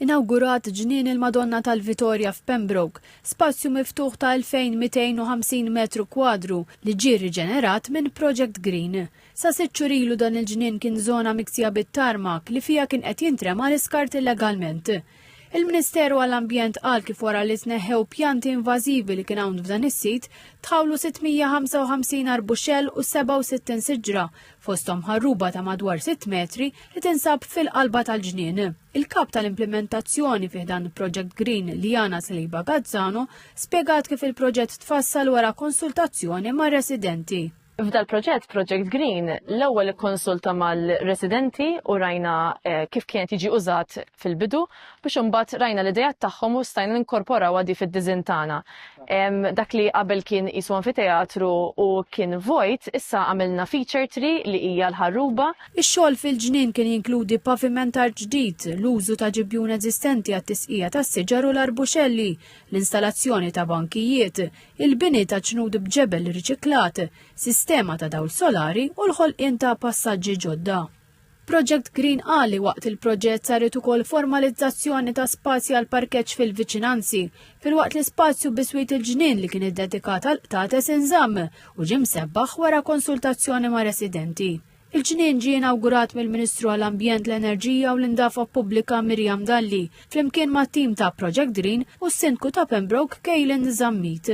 Inawgurat Ġnien il-Madonna tal-Vitorja f'Pembroke, spazju miftuħ ta' 2,250 metru kwadru li ġie rriġenerat minn Project Green. Sa sitt xhur ilu dan il-ġnien kien żona miksija bit-tarmak li fiha kien qed jintrema l-iskart illegalment. Il-Ministeru għall-Ambjent qal kif wara li tneħħew pjanti invażivi li kien hawn f'dan is-sit, tħawlu 655 arbuxell u 67 siġra fosthom ħarruba ta' madwar 6 metri li tinsab fil-qalba tal-ġnien. Il-kap tal-implimentazzjoni fih dan Project Green Liana Sliba Gazzano spjegat kif il-proġett tfassal wara konsultazzjoni ma' residenti. F'dal proġett Project Green l-ewwel ikkonsulta mal-residenti u rajna eh, kif kien jiġi użat fil-bidu biex imbagħad rajna l-idejat tagħhom u stajna ninkorporawha di fid-diżin tagħna. Dak li qabel kien qisu anfiteatru u kien vojt, issa għamilna feature tree li hija l-ħarruba. Ix-xogħol fil-ġnien kien jinkludi pavimentar ġdid, l-użu ta' ġibjun eżistenti għat-tisqija tas-siġar u l-arbuxelli, l-installazzjoni ta' bankijiet, il-bini ta' ġnud b'ġebel riċiklat, sistema ta' dawl solari u l-ħolqien ta' passaġġi ġodda. Project Green qal li waqt il-proġett saret ukoll formalizzazzjoni ta' spazji għal parkeġġ fil-viċinanzi, filwaqt li spazju biswit il-ġnien li kien iddedikat għal qtates inżamm u ġie msebbaħ wara konsultazzjoni ma' residenti. Il-ġnien ġie inawgurat mill-Ministru għall-Ambjent, l-Enerġija u l-Indafa Pubblika Miriam Dalli flimkien mat-tim ta' Project Green u s-Sindku ta' Pembroke Kaylen Zammit.